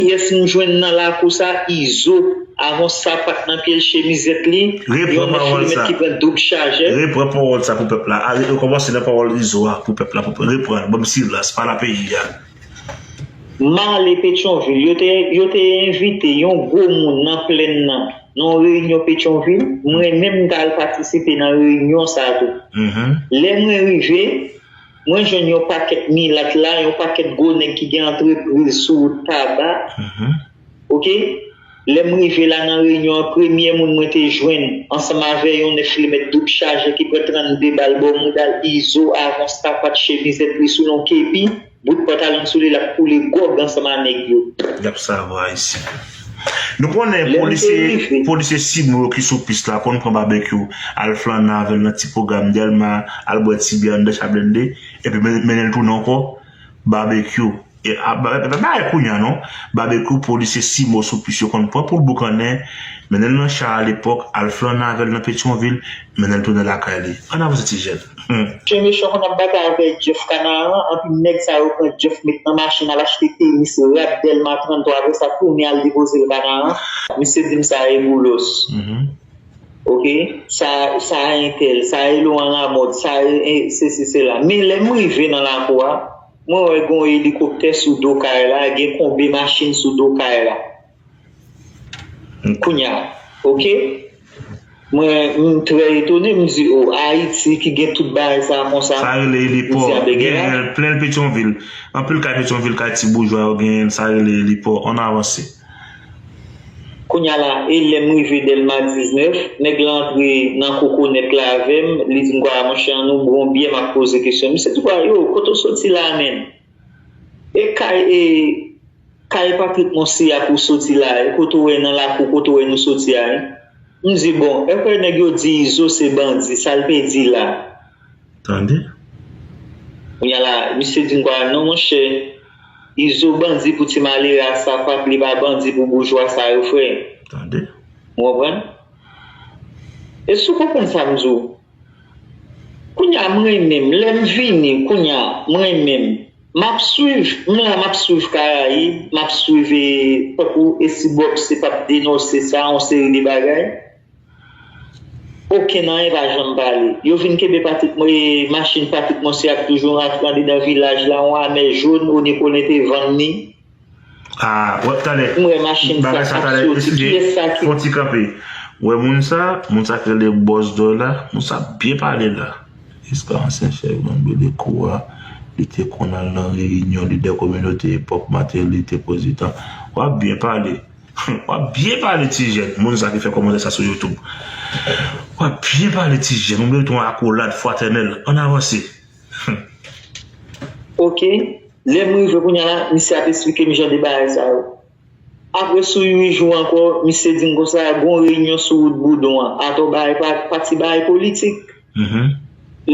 Kiyès nou jwenn nan lakou sa izo avon sapat nan pyel chemizèt li yon 9 kilomet ki pran doub chajè. Repran pawòl sa pou pèp la a rekòmanse nan pawòl izo a pou pèp la repran l banm silans pa la peyi a. Male petyonvil yo te envite yon gwo moun nan plenn nan nan yon reyinyon petyonvil mwen menm m t al patisipe nan reyinyon sa tou lè mwen rive Mwen jwenn yon pakèt milat la, yon pakèt gwo nèg ki gen antrepriz sou wout Taba, ok, lè m rive la nan reyinyon an premye moun mwen te jwenn ansanm avè yon 9 limèt doub chaje ki pran 32 bal bò mouda l izo avon sapat chemizèt li sou yon kepi bout pantalon sou li l ap koule gòg ansanm a nèg yo. L ap savo ayisyen. Nou konnen polisye si nou yo ki sou pis la konn pran Babekyou al flannen avèl nan ti pwogram Dèlma, al bwè ti byè anndan Chaplende epi mennenl tounen ankò Babekyou e a e pa parèy kounya non Babekyou polisye si mou sou pis yo konn pran poul boukannen mennenl nan cha alepòk al flannen avèl nan Petyonvil mennenl tounen lakay li Ann avanse ti jèn. Chien mechon konn ap batay avè Jeff kanaran anpi nèg sa yo pran Jeff met nan machin al achte tenis rad delma 33 apre sa tounen al depozel kanaran. Misye dim sa e boulos ok sa sa e entèl sa e Laurent Lamothe sa e sesi sela men lèm rive nan lakou a mwen wè gon elikoptè sou do kay la gen konbe machin sou do kay la Kounya ok mwen m trè etone m di oh ayiti ki gen tout bagay sa konsa. Sa rele elipò genyen l plen petyonvil anpil kay petyonvil kay ti boujwa yo genyen l sa rele elipò ann avanse. Kounya la e lèm rive delma 19 nèg la antre nan kokonèt la avèm li dim kwa monchè an nou bwon byè map poze kesyon misye di kwa yo kote w soti la menn e kay e Kay Patrick Monsi a pou soti la e kote ou wè nan lakou kote ou wè nou soti a e? M di bon, èpre nèg yo di Izo se bandi, sa l te di la? Tande. Kounya la, misye di m kwa, non monchè, Izo bandi pou ti malere a sapat, li pa bandi pou boujwa sa yo frè. Tande. Ou konprann? E si w konprann sa m di w? Kounya m renmen m, lè m vini, kounya, m renmen m. Map swiv, m la map swiv karayib, map swiv e tankou esi bob se pap denose sa yon seri de bagay okenn anyen pa janm pale yo vin kenbe patrik mo e machin patrik monse ap toujou rantre andedan vilaj la yon amè jaune o nepo lente vann ni. Ahh wap tande bagay sa tande eskize fon ti kanpe wè moun sa moun sa ki rele boss doy la moun sa ap byen pale la. Eske ansyen chèf gang Belekou a li te konn al nan reyinyon lidè kominote epòk Mateli te pwezidan? Wap byen pale humm wap byen pale ti jèn moun sa ki fè kòmantè sa sou youtube wap byen pale ti jèn ou merite yon akolad fwatènèl ann avanse. Humm ok lè m rive kounya la misye ap esplike m jan de bagay sa yo apre sou 8 jou ankò misye di m konsa gon reyinyon sou wout boudon an atò bagay pa ti bagay politik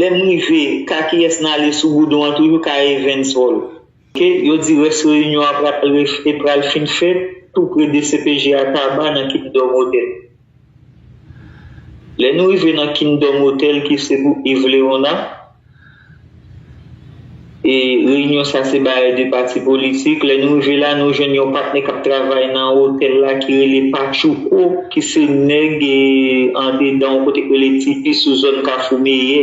lè m rive ka kiyès n ale sou boudon an toujou ka Evens Hall. Ke yo di rès reyinyon an pral e pral fin fèt tou pre dcpj a Taba nan Kingdom Hotel. Lè nou rive nan Kingdom Hotel ki se pou Yves Leona, e reyinyon sa se bare 2 pati politik, lè nou rive la nou jwenn yon patnè kap travay nan hotel la ki rele Patchouko ki se nèg andedan yon kote ki rele Tipi sou zòn Kafou Meyè.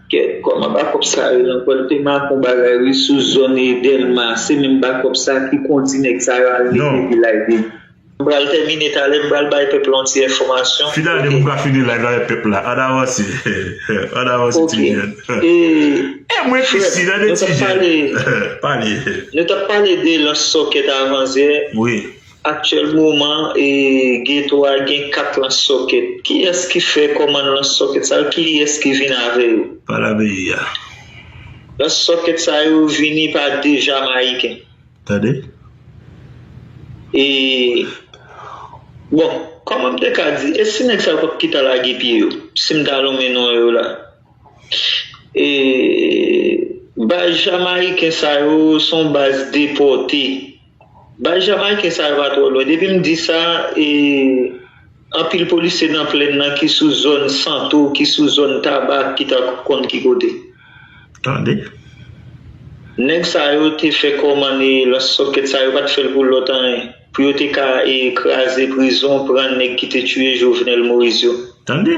Kèt kòman bakòp sa yo nan pwèl te makon bagay wi sou zòn e dèlma se menm bakòp sa ki kondi nèg sa yo al mete vilaj de. M pral tèmine talè m pral bay pèp la yon ti enfòmasyon. Fini ane pou m ka fini live la avèk pèp la ann avanse ann avanse ti jèn e mwen fisi nan de ti jèn pale. Nou tap pale de lans sòkèt avanzè. Aktyèl moman e geto a gen 4 lans sòkèt. Kiyès ki fè kòmann lans sòkèt sa yo? Kiyès ki vin avè yo? Pa la peyi a. Lans sòkèt sa yo vini pa 2 Jamayiken. Tande. E Bon, kòman m te ka di, e si nèg sa yo pa p ki ta lage pye yo? Si m ta lonmen non yo la. E Baz Jamayiken sa yo se yon baz depòte. Baz Jamaiken sa yo pa twò lwen. Depi m di sa, e anpil polisye nan plenn nan ki sou zòn Santo, ki sou zòn Taba ki ta konn ki kote. Tande. Nèg sa yo te fè kòmann e lans sòkèt sa yo pa t fè l pou lòt anyen. Pou yo te ka e kraze prizon, pran nèg ki te tiye Jovenel Moïse yo. Tande.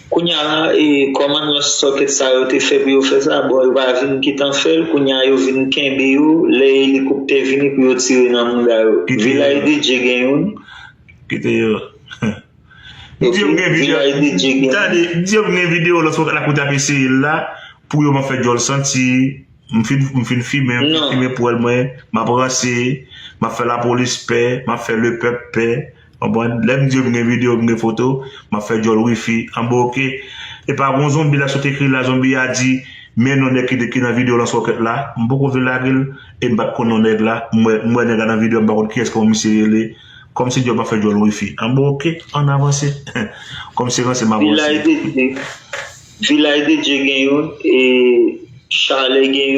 Kounya la e kòman nan sòkèt sa yo te fè pou yo fè sa bon yo pa vin kitan fèl kounya yo vin kenbe yo lè elikoptè vini pou yo tire nan mouda yo vilaj de dye gen youn Kite yo Di yo m gen video Tande Di yo m gen video lòt fwa lakou tap eseye l la pou yo m ap fè djòl santi m fin m fin fimen m fin fimen pwèl mwen m ap ranse m ap fè lapolis pè m ap fè lepèp pè. Konprann? Lè m di yo m gen video, m gen foto, m ap fè djòl wifi anba ok. Epa gon zonbi la sot ekri la, zonbi a di men non nèg ki nan video lans wòkèt la, m poko vle lage l e m pa t konn non nèg la, m wè m wè nèg la nan video a m pa konn kiyès kòman misye rele, kòm se djòl m ap fè djòl wifi anba ok, ann avanse kòm se ranse m avanse. Vilay de Dye, Vilay de Dye gen youn e Chale gen youn.